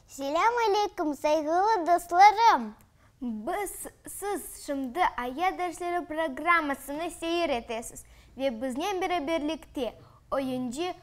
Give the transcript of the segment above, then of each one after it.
Selâm aleykum, sayğılı dostlarım! Biz, siz şimdi Aya dersleri programmasını seyir etesiz ve biznen beraberlikte oyuncı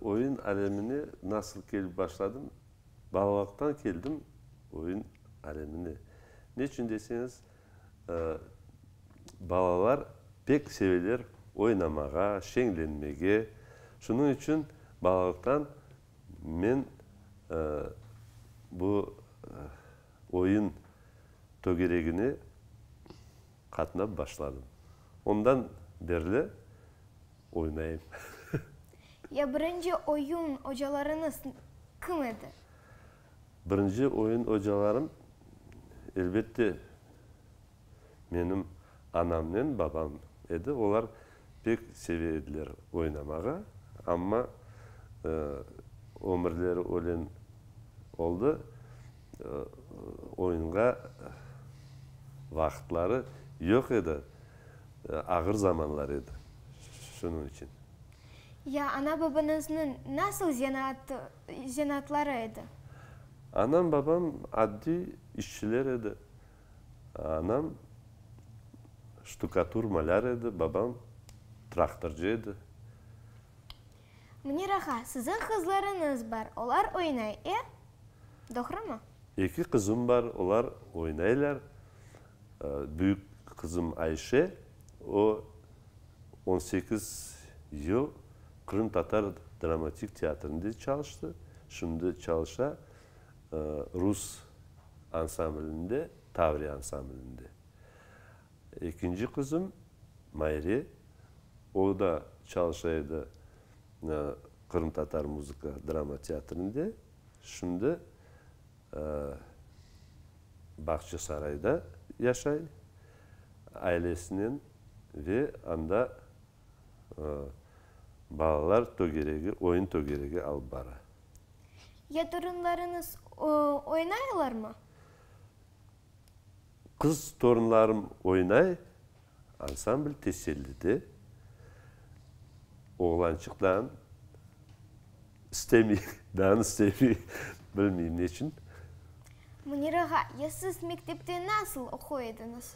Oyun alemine nasıl kelip başladım? Balalıqtan keldim oyun alemine. Neçün deseñiz, balalar pek seveler oynamağa, şeñlenmege. Şunıñ içün balalıqtan men bu oyun tögeregine. qatnap başladım. Ondan berli oynayım. Ya birinci oyun ocalarıñız kim edi? Birinci oyun ocalarım, elbette, menim anamnen babam edi. Olar pek seve ediler oynamağa. Amma ömürleri ölen oldı. Oyunğa vaqıtları yoq edi, ağır zamanlar edi, şunıñ içün. Ya ana-babanıznıñ nasıl zenaatları edi? Anam-babam addiy işçiler edi. Anam ştukatur-malâr edi, babam traktorcı edi. Münir ağa, siziñ qızlarıñız bar, olar oynay, e? Doğrumı? Eki qızım bar, olar oynaylar. Büyük qızım Ayşe, o, on sekiz yıl qırımtatar dramatik teatrinde çalıştı, şimdi çalışa rus ansamblinde, Tavriya ansamblinde. Ekinci qızım Mayre, o da çalışa edi qırımtatar muzıka drama teatrinde, şimdi Bağçasarayda yaşay ailesinen ve anda balalar tögeregi, oyun tögeregi alıp bara. Ya torunlarıñız oynaylarmı? Qız torunlarım oynay, ansambl tesellide, oğlançıq dan istemey, dan istemey, bilmeyim neçün. Münir ağa, ya siz mektepte nasıl oquy ediñiz?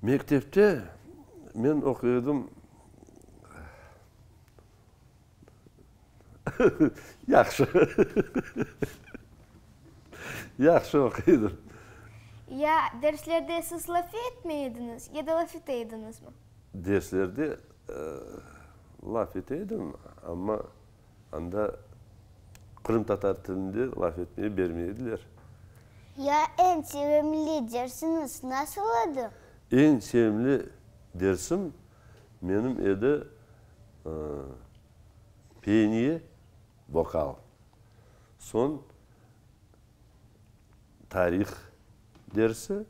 Mektepte men oquy edim, Yahşı. Yahşı oquydım. Ya derslerde siz laf etmey ediñiz, ya da laf ete ediñizmi? Derslerde laf ete edim, amma anda qırımtatar tilinde laf etmege bermey ediler. Ya eñ sevimli dersiñiz nasıl edi? Eñ sevimli dersim Menim edi peniye, vokal, soñ tarih dersi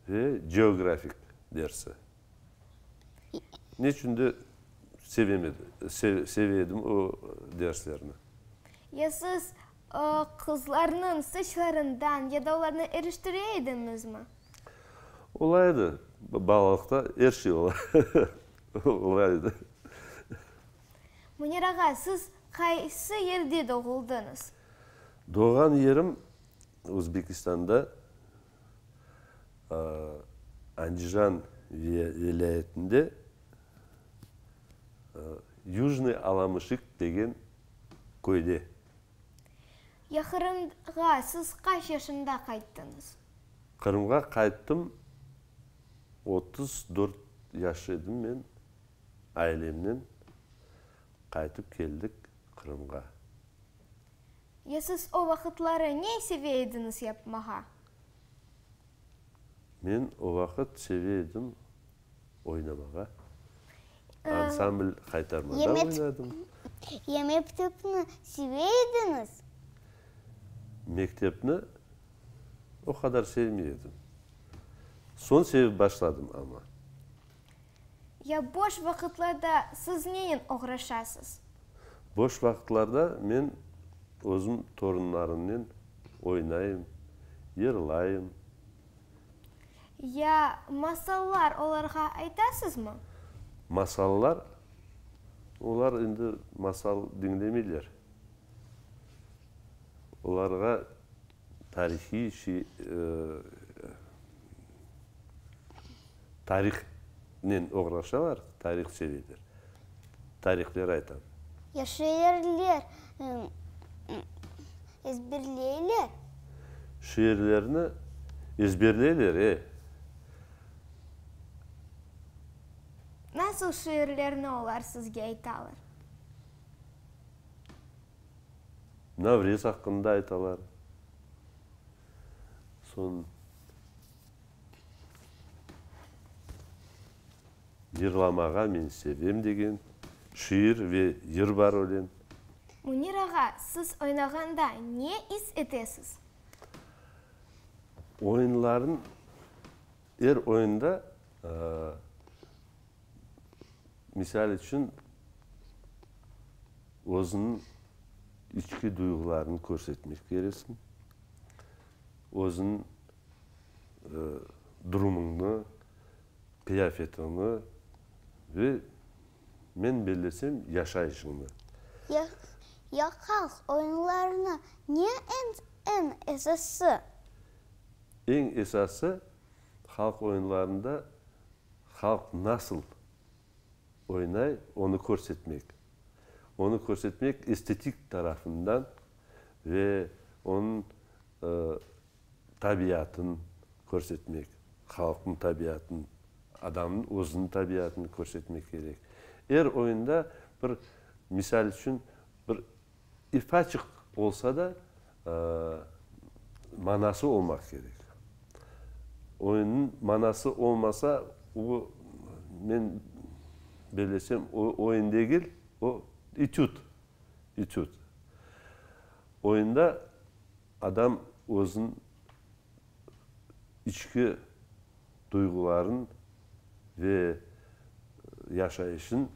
ve geografik dersi. Neçün de seve edim o derslerni. Ya siz qızlarnıñ saçlarından ya da olarnı eriştire edinizmi? Olay edi, balalıqta er şey ola. Olay edi. Münir ağa, siz qaysı yerde doğuldıñız? Doğğan yerim Özbekistanda, Andijan vilâyetinde Yujnıy Alamışık degen köyde. Yahırımğa siz qaç yaşında qayttıñız? Qırımğa qayttım, otuz dört yaş edim men, ailemnen qaytıp keldik Qırımğa. Ya siz o vaqıtları ne seve ediñiz yapmağa? Men o vaqıt seve edim oynamağa, ansambl qaytarmada oynadım. Ya mektepni seve ediñiz? Mektepni o qadar sevmey edim. Soñ sevip başladım amma. Ya boş vaqıtlarda siz neyen oğraşasız? Boş vaqıtlarda men özüm torunlarımnen oynayım, yırlayım. Ya masallar olarğa aytasızmı? Masallar? Olar indi masal diñlemeyler. Olarğa tarihiy şey, tarihnen oğraşalar, tarih söyleyler. Tarihleri aytam. Yaşayerler. Ezberleyler. Şiirlerni ezberleyler, e. Nasıl şiirlerni olar sizge aytalar? Navrez aqqında aytalar. Soñ. Yırlamağa men sevem degen şiir ve yır bar ölen. Münir ağa, siz oynağanda ne is etesiz? Oyunlarnı, er oyunda, misal içün, özüniñ içki duyğularını körsetmek keresiñ, özüniñ durumıñnı, qıyafetiñni ve, men bellesem, yaşayışıñnı. Yaqalq oyunlarını ne eñ esası? Eñ esası, halq oyunlarında halq nasıl oynay, onı körsetmek. Onı körsetmek estetik tarafından ve onıñ tabiatın körsetmek, halqnıñ tabiatın, adamnıñ özüniñ tabiatını körsetmek kerek. Er oyunda bir, misal içün, bir ifaçıq olsa da, manası olmaq kerek. Oyunnıñ manası olmasa, o, men belesem, o oyun degil, o, etüd, etüd. Oyunda Adam özün içki duyğuların ve yaşayışın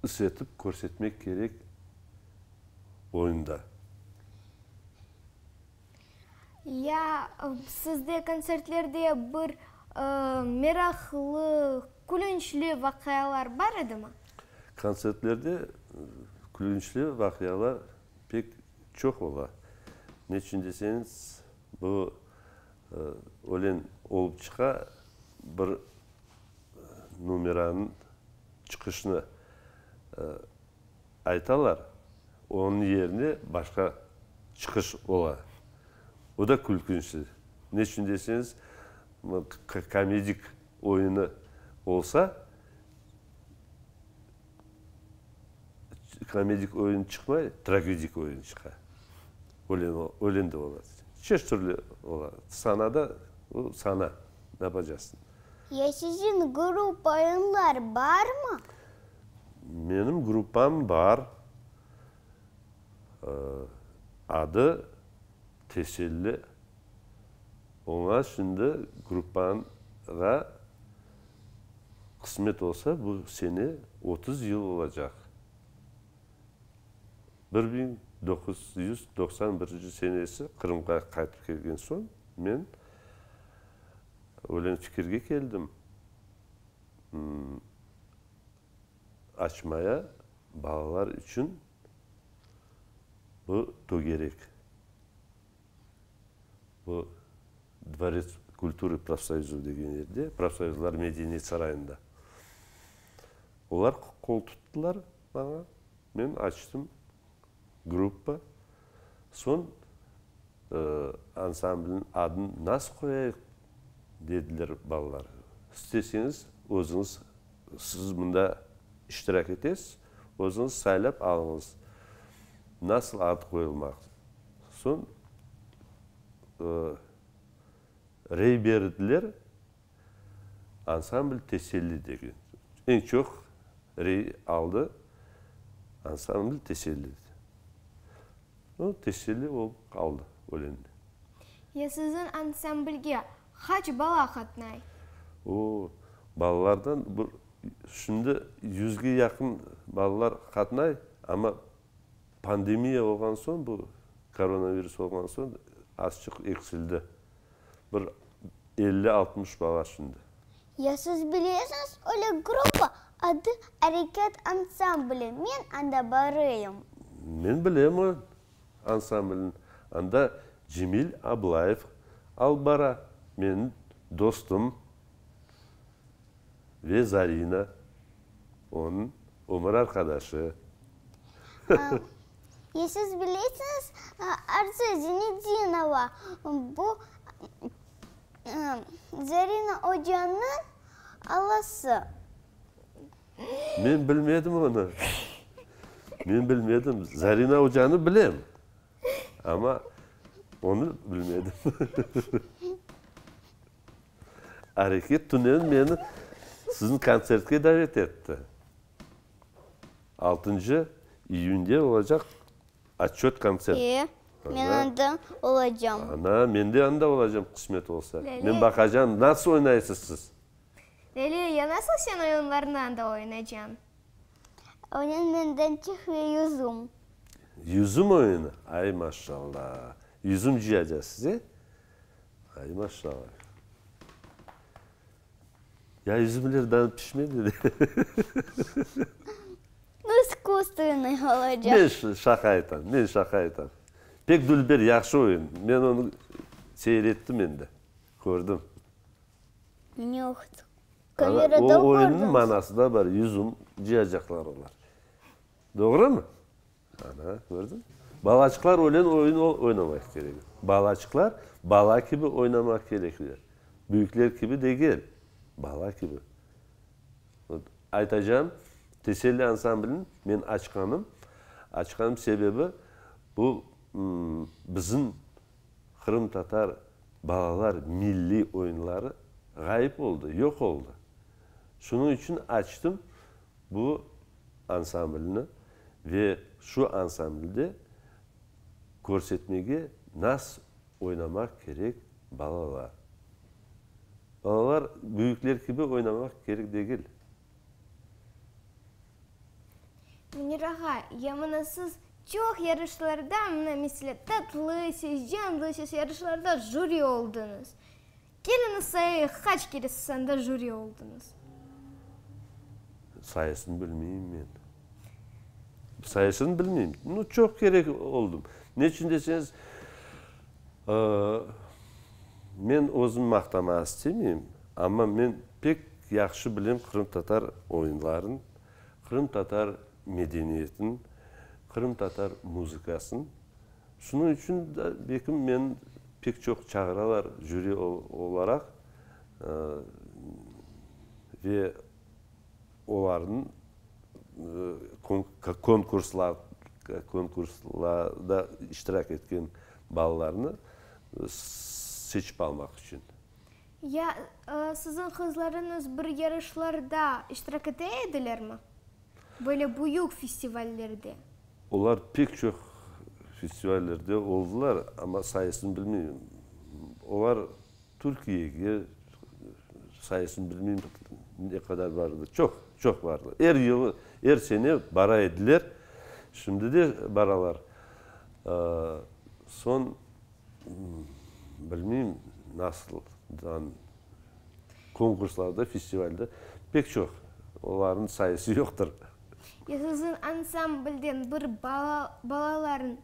is etip körsetmek kerek oyunda. Ya, sizde kontsertlerde bir meraqlı, külünçli vaqialar bar edimi? Kontsertlerde külünçli vaqialar pek Çoq ola. Neçün deseñiz, bu ölen olıp çıqa, bir numeranıñ çıqışını aytalar, onıñ yerine başqa çıqış ola. O da külkünçli. Neçün deseñiz, komedik oyunı olsa, komedik oyun çıqmay, tragedik oyun çıqa. Ölen, ölen de ola. Çeşit türlü ola. Sanada, o sana, ne yapacaqsıñ? Ya siziñ grup oyunlar barmı? Menim gruppam bar. Adı Teselli. Oña şimdi gruppaña qısmet olsa, bu sene otuz yıl olacaq. Bir biñ doquz yüz doqsan birinci senesi Qırımğa qaytıp kelgen soñ, men öyle fikirge keldim, açmaya balalar içün bu tögerek. Bu Dvorets kulturı profsoyuzı degen yerde, profsoyuzlar medeniyet sarayında. Olar qol tuttılar maña, men açtım gruppa. Soñ ansamblniñ adın nasıl qoyayıq dediler balalar. İsteseñiz özüñiz, siz mında iştirak etesiz, özüñiz saylap alıñız, nasıl ad qoyulmaq Soñ rey berdiler, ansambl Teselli degen. Eñ çoq rey aldı ansambl Teselli. O Teselli olıp qaldı ölende. Ya siziñ ansamblge qaç bala qatnay? O, balalardan şimdi yüzge yaqın balalar qatnay, amma Pandemiya olğan soñ bu, koronavirus olğan soñ azçıq eksildi. Bir elli, altmış bala şimdi. Ya siz bilesiñiz öyle gruppa, adı Areket ansambli, men anda barıyım. Men bilem o ansamblni. Anda Cemil Ablayev alıp bara, menim dostum. Ve Zarina, onıñ ömür arqadaşı. Ya siz bilesiñiz, Arzu Zenedinova, bu Zarina ocanıñ alası. Men bilmedim onı. Men bilmedim. Zarina ocanı bilem, amma onı bilmedim. Areket tünen meni siziñ kontsertke davet etti. Altıncı iyünde olacaq Otçöt konsert. E, men anda olacam. Ana, men de anda olacam, qısmet olsa. Men baqacam, nasıl oynaysız siz? Leliya, ya nasıl sen oyunlarnı anda oynacan? Onen menden çiğ ve yüzüm. Yüzüm oyunı? Ay, maşalla! Yüzüm cıyacasız, e? Ay maşşallah. Ya üzümler daha pişmedi de. Bu iskustenıy olacaq. Men ş- şaqa aytam, men şaqa aytam. Pek dülber yahşı oyun. Men onı seyrettim endi, kördim. Ñoqtı. Ana, Kamerada o oyunnıñ kördiñiz. manası da bar, üzüm cıyacaqlar olar. Doğrumı? Ana, kördiñ? Balaçıqlar ölen oyun oynamaq kerek. Balaçıqlar bala kibi oynamaq kerekler. Büyükler kibi degel, bala kibi. Aytacağım, Teselli ansamblini men açqanım, açqanım sebebi, bu bizim qırımtatar balalar milliy oyunları ğayıp oldı, yoq oldı. Şunıñ içün açtım, Bu ansamblni ve şu ansamblde körsetmege nas oynamaq kerek balalar. Balalar büyükler kibi oynamaq kerek degil. Münir ağa, ya mına siz çoq yarışlarda, mına, meselâ, Tatlı ses, Canlı ses yarışlarda jüri oldıñız. Keliniz sayı qaç kere siz anda jüri oldıñız? Sayısını bilmeyim men. Sayısını bilmeyim. Nu, çoq kere oldım. Neçün deseñiz, men özüm maqtamaq istemeyim, amma men pek yahşı bilem qırımtatar oyunların, qırımtatar medeniyetin, qırımtatar muzıkasın. Şunıñ içün de belki meni pek çoq çağıralar jüri olaraq ve olarnıñ konkurslarda iştirak etken balalarnı seçip almaq içün. Ya siziñ qızlarıñız bir yarışlarda iştirak ete edilermi? Böyle büyük festivallerde. Olar pek çoq festivallerde oldılar, amma sayısını bilmeyim. Olar Türkiyege, sayısını bilmeyim, ne qadar bar edi. Çoq, çoq bardı. Er yıl, er sene bara ediler. Şimdi de baralar. Soñ, bilmeyim, nasıldan Konkurslarda, festivalde pek çoq, olarnıñ sayısı yoqtır. Siziñ ansamblden bir bala, balalarıñ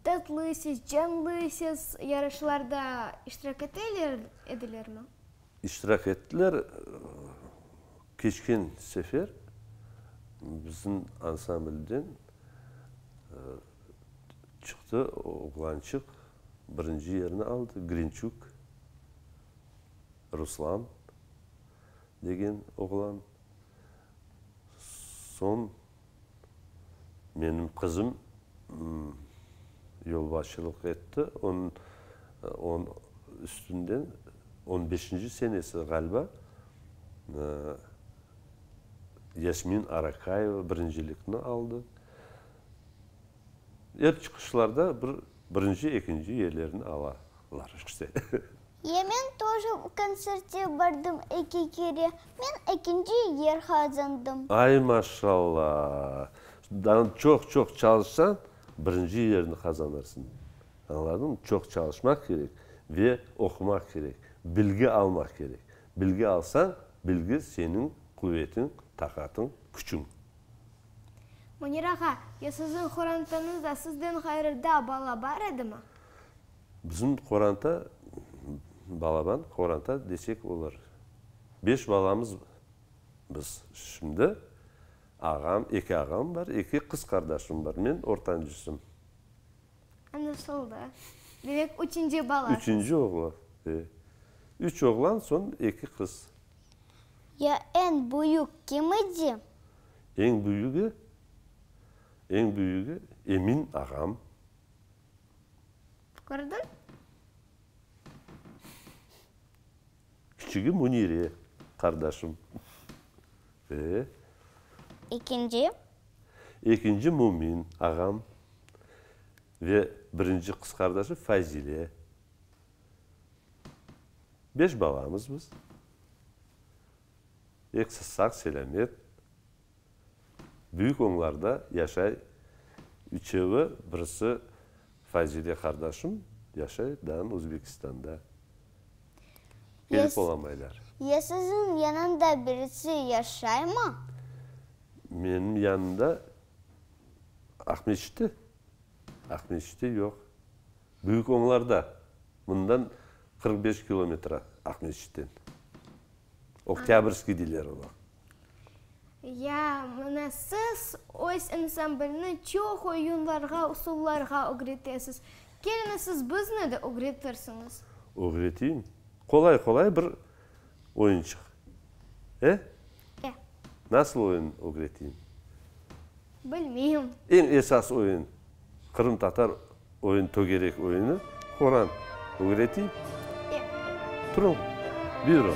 tatlıysız, canlıysız yarışlarda iştirak eteler edilermi? İştirak ettiler. Keçken sefer biziñ ansamblden çıqtı, oğlançıq birinci yerni aldı, Grinçuk Ruslan degen oğlan, soñ menim qızım yolbaşçılıq etti, onıñ üstünden on beşinci senesi ğaliba Yasmin Arakayeva birincilikni aldı. Er çıqışlarda bir birinci, ekinci yerlerni alalar işte. Ya men toje o konsertke bardım eki kere, men ekinci yer qazandım. Ay maşalla! Daa çoq-çoq çalışsañ, birinci yerni qazanırsıñ. Añladıñmı? Çoq çalışmaq kerek ve oqumaq kerek, bilgi almaq kerek. Bilgi alsañ, bilgi seniñ quvetiñ, taqatıñ, küçüñ. Münir ağa, ya siziñ qorantanızda sizden ğayrı da bala bar edimi? Bizim qoranta, balaban qoranta desek olar. Beş balamız biz şimdi. Ağam, eki ağam bar, eki qız qardaşım bar, men ortancısım. Añlaşıldı. Demek, üçünci balasız. Üçünci oğlan, e. Üç oğlan, soñ eki qız. Ya eñ büyük kim idi? Eñ büyügi? Eñ büyügi Emin ağam. Qırdıñ? Küçügi Münire qardaşım. Ee? Ekinci? Ekinci Mümin ağam ve birinci qız qardaşı Fayzile. Beş balamız biz. Ekisi sağ, selâmet. Büyük oñlarda yaşay. Üçevi, birisi Fayzile qardaşım yaşay dağın Özbekistanda. Kelip olamaylar. Ya siziñ yanında birisi yaşaymı? Menim yanımda Aqmescitte? Aqmescitte yoq. Büyük Oñlarda, mından qırq beş kilometre Aqmescitten. Oktâbrskiy deyler oña. Ya, mına siz öz ansamblni çoq oyunlarğa, usullarğa ögretesiz. Keliniz, siz bizni de ögretirsiñiz. Ögreteyim. Qolay-qolay bir. oyunçıq. E? E. Nasıl oyun ögreteyim? Bilmeyim. Eñ esas oyun, qırımtatar oyun, tögerek oyunı, Quran. Ögreteyim? E. Turun, buyurun.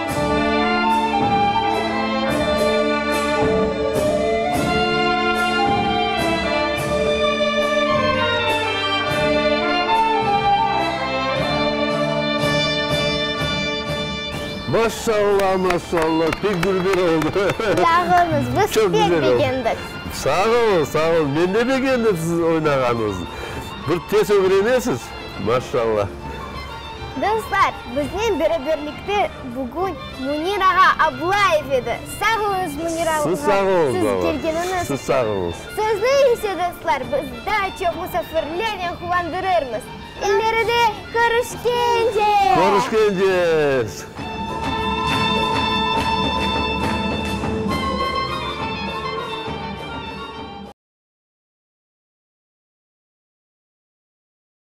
Maşallah, maşallah, pek dülber oldı. Sağ olunız, biz pek begendik. Sağ olun, sağ olun, men de begendim siziñ oynağanıñıznı. Bir tez ögrenesiz, maşallah. Dostlar, biznen beraberlikte bugün Münir ağa Ablayev edi. Sağ oluñız, Münir ağa, siz kelgeniñiz içün. Siz sağ oluñız. Sözni ise, dostlar, biz daa çoq musafirlernen quvandırırmız. İleride körüşkence! Körüşkence!